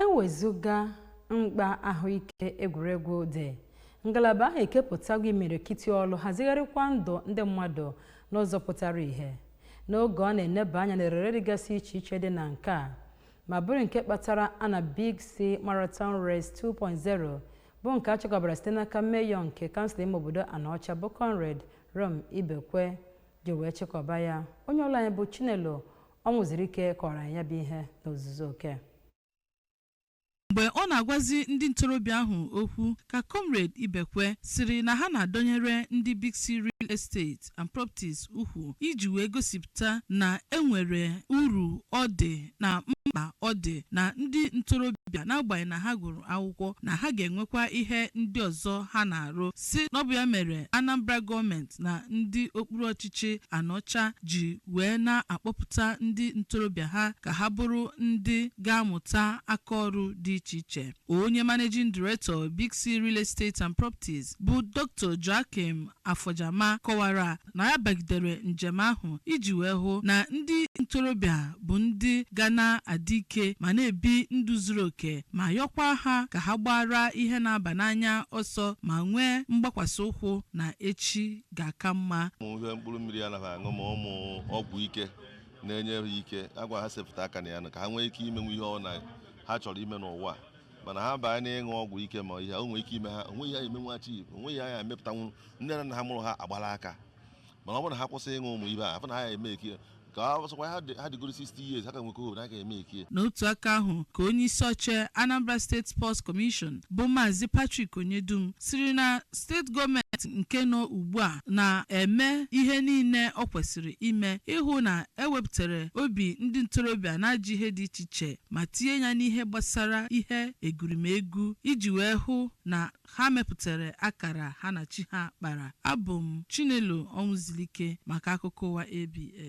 ewezụga mkpa ahụike egwuregwu dị ngalaba ahụ ekepụtago imirikiti ọrụ hazigharịkwa ndụ ndị mmadụ n'ụzọ pụtara ìhè n'oge ọ na-eneba anya n'erere dịgasị iche iche dị na nke a ma bụrụ nke kpatara a na Big C Marathon Race 2.0 bụ nke a chịkọbara site n'aka meyọ nke kansụl ime obodo Anaọcha bụ Comrade Rom Ibekwe ji wee chịkọba ya onye ọrụ anyị bụ Chinelo ọnwụzirike kọọrọ anyị ya bụ ihe n'ozuzu oke mgbe ọ na-agwazi ndị ntorobịa ahụ okwu ka comrade ibekwe sịrị na ha na-adọnyere ndị big c real estate and properties ukwu iji wee gosipụta na enwere uru ọ dị na mkpa ọ dị na ndị ntorobịa n'agbanyeghị na ha gụrụ akwụkwọ na ha ga-enwekwa ihe ndị ọzọ ha na-arụ sị na ọ bụ ya mere anambra gọọmenti na ndị okpuru ọchịchị anaọcha ji wee na-akpọpụta ndị ntorobịa ha ka ha bụrụ ndị ga-amụta aka ọrụ dị iche iche. Onye Managing Director Big C Real Estate and Properties bụ Doctor Joachim Afojama kọwara na ya bagidere njem ahụ iji wee hụ na ndị ntorobịa bụ ndị ga na-adị ike ma na-ebi ndụ zuru oke ma yọkwa ha ka ha gbaara ihe na-aba n'anya ọsọ ma nwee mgbakwasị ụkwụ na echi ga-aka mma ụmụ ihe mkpụrụ mmiri a na-aṅụ ma ụmụ ọgwụ ike na-enye ha ike agwa ha sepụta aka na ya nụ ka ha nwee ike imenwu ihe ọ na ha chọrọ ime n'ụwa a. mana ha baa na ịṅụ ọgwụ ike ma ihe o nwere ike ime ha onweghị ihe ha ya emenwu echi onweghị ihe ha ya emepụtanwu nne na nna ha mụrụ ha agbala aka mana ọ bụrụ na ha kwụsị ịṅụ ụmụ ihe afụ na ha ya eme ike ka ọ sọkwa ha dị- ha dịgoro 60 years ha ka nwekọ hope na ha ga-eme ike n'otu aka ahụ ka onye isi oche anambra state sports commission bụ maazị patrick onyedum sịrị na steeti gọọmenti nke nọ ugbu a na-eme ihe niile o kwesịrị ime ịhụ na ewepụtara obi ndị ntorobịa n'ajọ ihe dị iche iche ma tinye ya n'ihe gbasara ihe egurimegwu iji wee hụ na ha mepụtara akara ha na chi ha kpara abụ m chinelo ọnwụzilike maka akụkọ ụwa abs